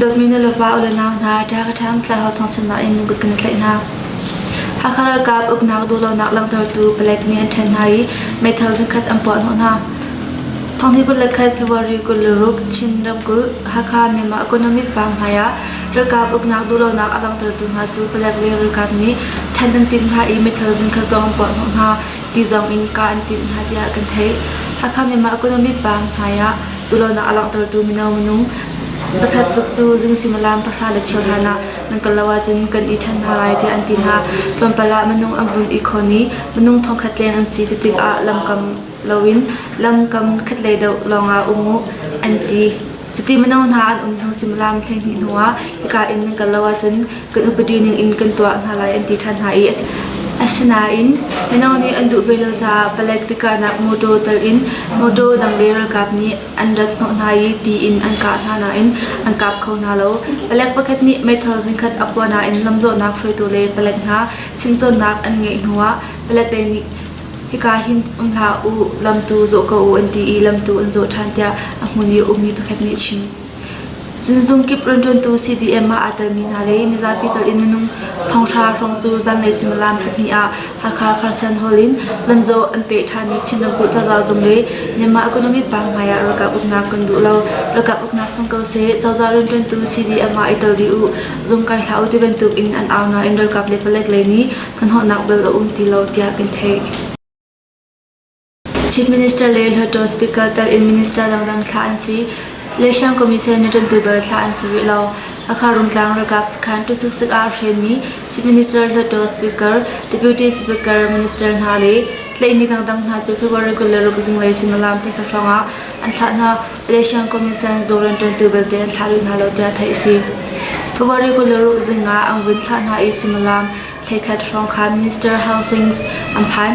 Dawtmi nu le pa u le nau hna ṭha ka ṭham thlaho thawngchimnak in kut kan i tlaih hna. Hakha ralkap uknak duhlonak langhtertu palek nih an ṭhen hna i meithal zingkhat an puah hnawh hna. Thawngni kul le khat February kul le ruk Chin ramkulh Hakha Myanmar Economic Bank hmaiah ralkap uknak duhlonak a langhtertu hna cu palek le ralkap nih ṭhen an timh hna i meithal zingkhat zong an puah hnawh hna. ti zong in kah an timh hna tiah kan theih. Hakha Myanmar Economy Bank hmaiah tulonak a langhtertu mino minung zakhat tluk cu zing suimilam pahra le cheu hlan ah nan kal lo ahcun kan i ṭhen hna lai tiah an ti hna. Tlawmpal ah minung an vun i khawn i minung thongkhat leng an si cu tikah lamkam loin lamkam khatlei deuh lawngah um u an ti. Cuti mino hna an um hnu suimilam hleihnih hnuah hika in nan kal lo ahcun kan upadi ning in kan tuah hna lai an ti ṭhan hna i asinain mino nih an duh ve lo caah palek tikahnak motor tal in motor dang le ralkap nih an rat hnawh hna i tiin an kah hna nain an kap kho hna lo. Palek pakhat nih meithal zingkhat a phuah nain lamzawhnak hruaitu le palek hna chimcawnnak an ngeih hnuah palek lei nih Hika hin um hlah u, lamtu zawh ko u an ti i lamtu an zawh ṭhan tiah a hmun i a ummi pakhat nih a chim. Cun zungkip rianṭuantu CDM ah aa telmi hna le mizapi tal in minung thongṭha hrawng cu zanlei suimilam pahnih ah Hakha Kherson Hall in lamzaw an peh ṭhanmi Chin ramkulh cozah zung le Myanmar economy paang hmaiah ralkap uknak kan duh lo. Ralkap uknak sung ko seh, cozah rianṭuantu CDM ah i tel dih u, zung kai hlah u ti bantuk in an au nain ralkap le palek lei nih hnahnawhnak bel a um ti lo tiah kan theih. Chief Minister le Hluttaw Speaker tel in Minister dangdang thlah an si. Le Shang Commission na ṭan tubal thlah an si rih lo. Akha Rumtlang ralkap sakhan tu suk suk ah hrenmi Chief Minister Hluttaw Speaker, Deputy Speaker, Minister hna le tlaihmi dangdang hna cu khiwa regular ruk zinglei sumalam te hla hrangah an thlah hna Malaysian Commission Zoran ṭuantu belte an thlah rih hna lo tiah theih a si. February kul le ruk zing ah an vun thlah hna i suimilam thleikhat hrawng kha Minister Aung Sing an phan.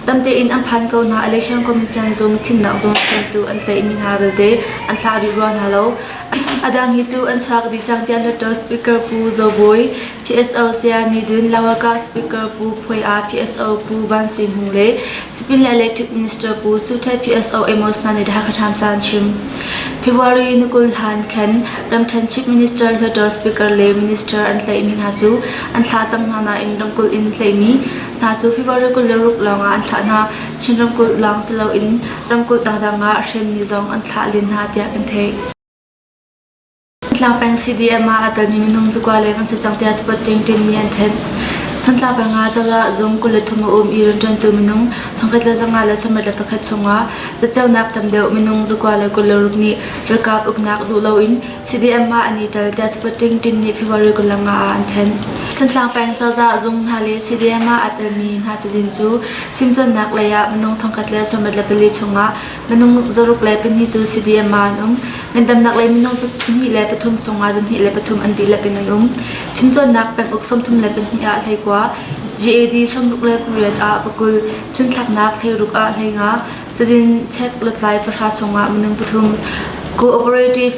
Tamte in an phan ko hna Election Commission zung thimnak zung ṭuantu an tlaihmi hna belte an thlah rih rua hna lo. A dang hi cu an chuak dih cang tiah Nato Speaker Pu Zo Bawi PSO saya Nidun Lawakah Speaker Pu Phoi Ah PSO Pu Ban Sui Hmu le Sipin le Electric Minister Pu Suthe PSO Amos na nidha khatham san chim February nukul han khen ramthen chief minister hluato speaker le minister an tlai mi hna chu an thla chang hna na in ramkul in tlai mi hna chu February kul le ruk longa an thla na Chin ramkul long silo in ramkul dangdang a hren ni zong an thla lin na tiak in theih Hnatlak peng CDM ah a ton i minung cikua leng an si cang tiah spot ṭingṭing nih an thanh. Hnatlak peng ah cozah zung kul le thum a um i rianṭuantu minung thongkhat le zanga le samrat le pakhat chungah caceunak tam deuh minung cikua le kul le ruk nih ralkap uknak duh loin CDM ah an i tel tiah spot ṭingṭing nih February kul le nga ah an thanh. Thantlang peng cozah zung hna le CDM ah aa telmi hna cazin cu fimcawnnak lei ah minung thongkhat le samrat le pali chungah Minung zaruk le pahnih cu CDM ah an um. Ngandamnak lei minung cu pahnih le pathum cungah zarhnih le pathum an dihlak in an um. Fimcawnnak penguk sawmthum le pahnih ah hleikua, GAD sawmruk le pariat ah pakul, cinthlaknak hleiruk ah hleinga, cazin chek lutlai pahra chungah minung pathum, cooperative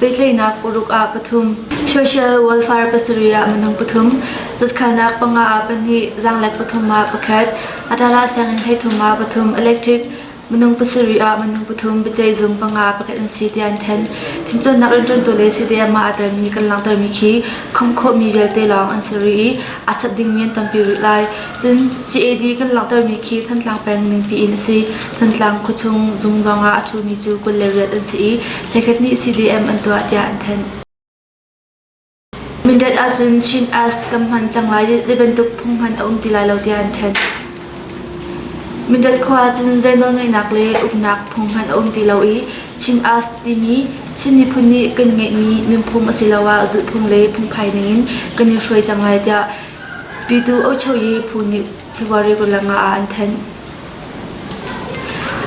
Pehtlaihnak uruk ah pathum, social welfare pasarih ah minung pathum, cutskhalnak panga ah pahnih, zaanglek pathum ah pakhat, atala sianginn hleithum ah pathum electric, minung pasarih ah minung pathum biaceih zum panga pakhat an si tiah an then. Fimcawnnak rianṭuantu le CDM ah aa telmi kan langhtermi khi khawm khawhmi vialte lawng an si rih i a cat dingmi an tampi rih lai. Cun CAD kan langhtermi khi Thantlang peng ningpi in a si. Thantlang khuachung zung zongah a ṭhumi cu kul le riat an si i hlekhat nih CDM an tuah tiah an thanh. Mindat ahcun Chin Ash kam hman cang lai ti bantuk phung hman a um ti lai lo tiah an thanh. Mindat khua ahcun zei nawlngeihnak le uknak phung hman a um ti lo i Chin Ash timi Chin miphun nih kan ngeihmi nunphung asiloah zulhphung le phungphai ningin kan i hruai cang lai tiah Pitu ocho i phu nih February kul le nga ah an thenh.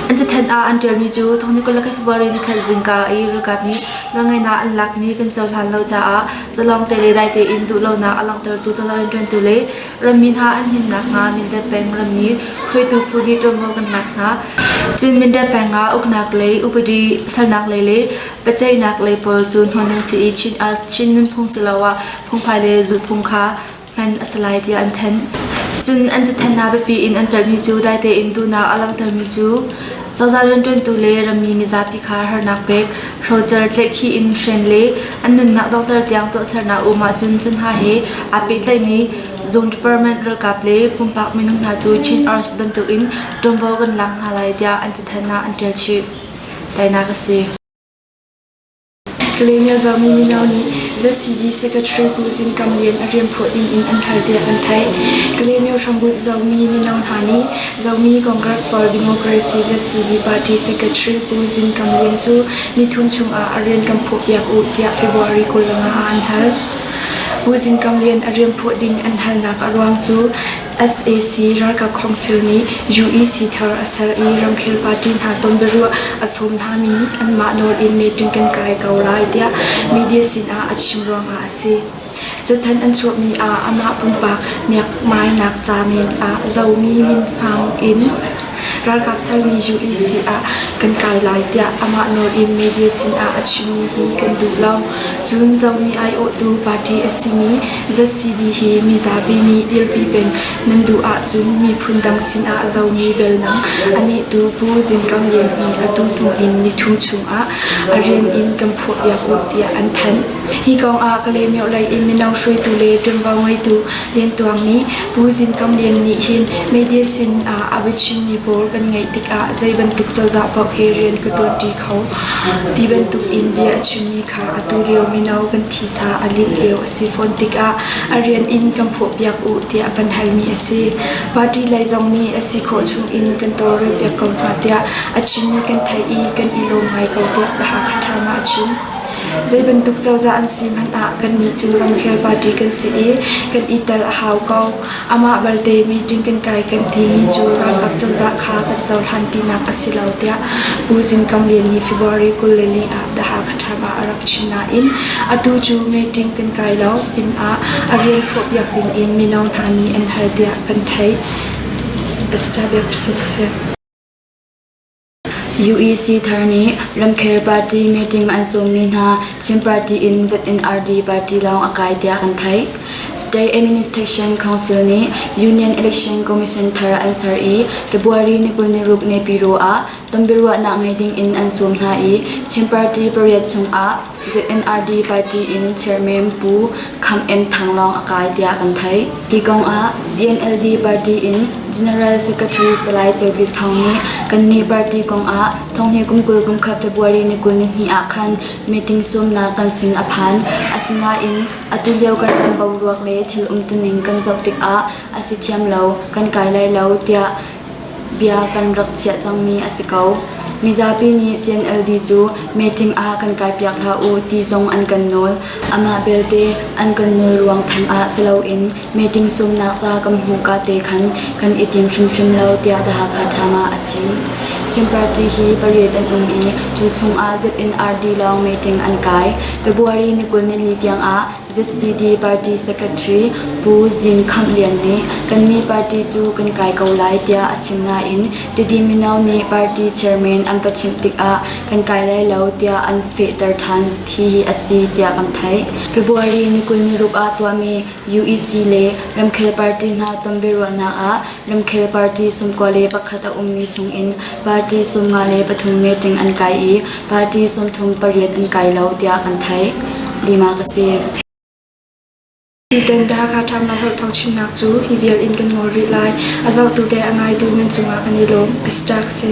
An cathanh ah an ṭialmi cu thawngni kul le khat February ni khat zingka i ralkap nih nawlngaihnak an lak ni kan cohlan lo caah zalawngte le dai tein duhlonak a langhtertu cozah rianṭuantu le rammi hna an him nakhnga Mindat peng rammi hruaitu phu nih ṭuanvo kan lak hna. Cun Mindat peng ah uknak lei upadi salnak lei le biaceihnak lei pawl cu hnon an si i Chin us Chin nunphung siloah phungphai le zulhphung kha hman a si lai tiah an thanh. Cun an cathlennak biapi in an ṭalmi cu dai tein duhnak a langhtermi cu cozah rianṭuantu le rammi mizapi kha harnak pek, hrocer tleikhi in hren le an nunnak donghter tiang tuahsernak um ahcun cu hna he aa pehtlaimi zung department ralkap le pumpak minung hna cu Chin Arch bantukin ṭuanvo kan lak hna lai tiah an cathlennak an ṭial chih. Tainak a si. Lenya Zami mino nih ZCD Secretary Pu Zin Kam Lian a rianphuah ding in an hal tiah an theih. Kalemyo hrambunh Zomi mino hna nih Zomi Congress for Democracy ZCD Party Secretary Pu Zin Kam Lian cu nithum chungah a rian kan phuah piak u tiah February kul lawng ah an hal. Pu Zin Kam Lian a rianphuah ding an halnak a ruang cu sac ralkap khawngsil nih UEC thar a ser i ramkhel party hna tonbiaruah a sawm hngami anmah nawl in meeting kan kai ko lai tiah media sinah a chim ruangah a si. Cathanh an chuahmi ah amah pumpak miakmainak ca men ah zomi minhmang in ralkap sermi UEC ah kan kai lai tiah amah nawl in media sinah a chimmi hi kan duh lo. Cun zomi aiawhtu party a simi ZCD hi mizapi nih dirpi peng nan duh ahcun miphun dang sinah zomi belnang a nehtu Pu Zin Kam Lian nih atu hnu in nithum chungah a rian in kan phuahpiak u tiah an thanh. Hi kongah Kalaymyo lei i mino hruaitu le ṭuanvo ngeitu Lian Tuang nih Pu Zin Kam Lian nih hin media sin ah a biachimmi pawl kan ngaih tikah zei bantuk cozah paoh he rian ka ṭuanṭi kho ti bantuk in bia a chimmi atu lio mino kan thisa a lit lio a si fawn tikah a rian in kan phawhpiak u tiah van halmi a si. Party lei zong nih a si khawh chungin kan tawlrelpiak ko hna tiah a chimmi kan theih i kan i lawm ngai ko tiah ka Hakha Ṭhama a chim. Zei bantuk cozah an si hmanh ah kannih cu ramkhel party kan si i kan i tel a hau ko. Amah balte meeting kan kai kan timi cu ralkap cozah kha kan cohlan tinak a si lo tiah Pu Zin Kang Lian nih February kul le li ah The Hakha Time ah a rak chim nain atu cu meeting kan kai lo pinah a rian phuah piak dingin mino hna nih an hal tiah kan theih. Assistant Vice President a si. UEC thar nih ramkhel party meeting an sawmmi hna Chin party in ZNRD party lawng a kai tiah kan theih. State Administration Council nih Union Election Commission thar an ser i February ni kul ni ruk ne piro ah tonbiaruahnak ngei ding in an sawm hna i Chin party pariat chung ah The NRD party in Chairman Pu Khang En Thang lawng a kai tiah kan theih. Hi kong ah ZNLD party in General Secretary Salai Chaw Bik Thawng nih kannih party kong ah thonghni kumkul kumkhat February ni kul ni hnih ah khan meeting sawmnak kan sin a phan. Asinain atu lio kan ram boruak le thil umtuning kan zoh tikah a si thiam lo, kan kai lai lo tiah Bia kan rak chiah cangmi a si ko. Mizapi nih CNLD cu meeting ah kan kaipiak hlah u ti zong an kan nawl. Amah belte an kan nawl ruang theng ah si loin meeting sumnak ca kan hmuhka te khan kan i tim hrimhrim lo tiah The Hakha Times ah a chim. Chin party hi pariat an um i tu chungah ZNRD lawng meeting an kai. February ni kul nili tiangah ZCD party secretary Pu Zin Khang Lian nih kannih party cu kan kai ko lai tiah a chim nain Tidi mino nih party chairman an va chimh tikah kan kai lai lo tiah an fehter ṭhan hi hi a si tiah kan theih. February ni kul ni ruk ah tuahmi UEC le ramkhel party hna tonbiaruahnak ah Ramkhel party sum kua le pakhat a ummi chungin party sum nga le pathum meeting an kai i party sumthum pariat an kai lo tiah kan theih. Lima ka si. Tutan Dhaka ṭhamnak holh thawngchimnak cu hi vial in kan ngol rih lai. A zohtu te a ngaitu nan cungah kan i lawm. Best ṭak si.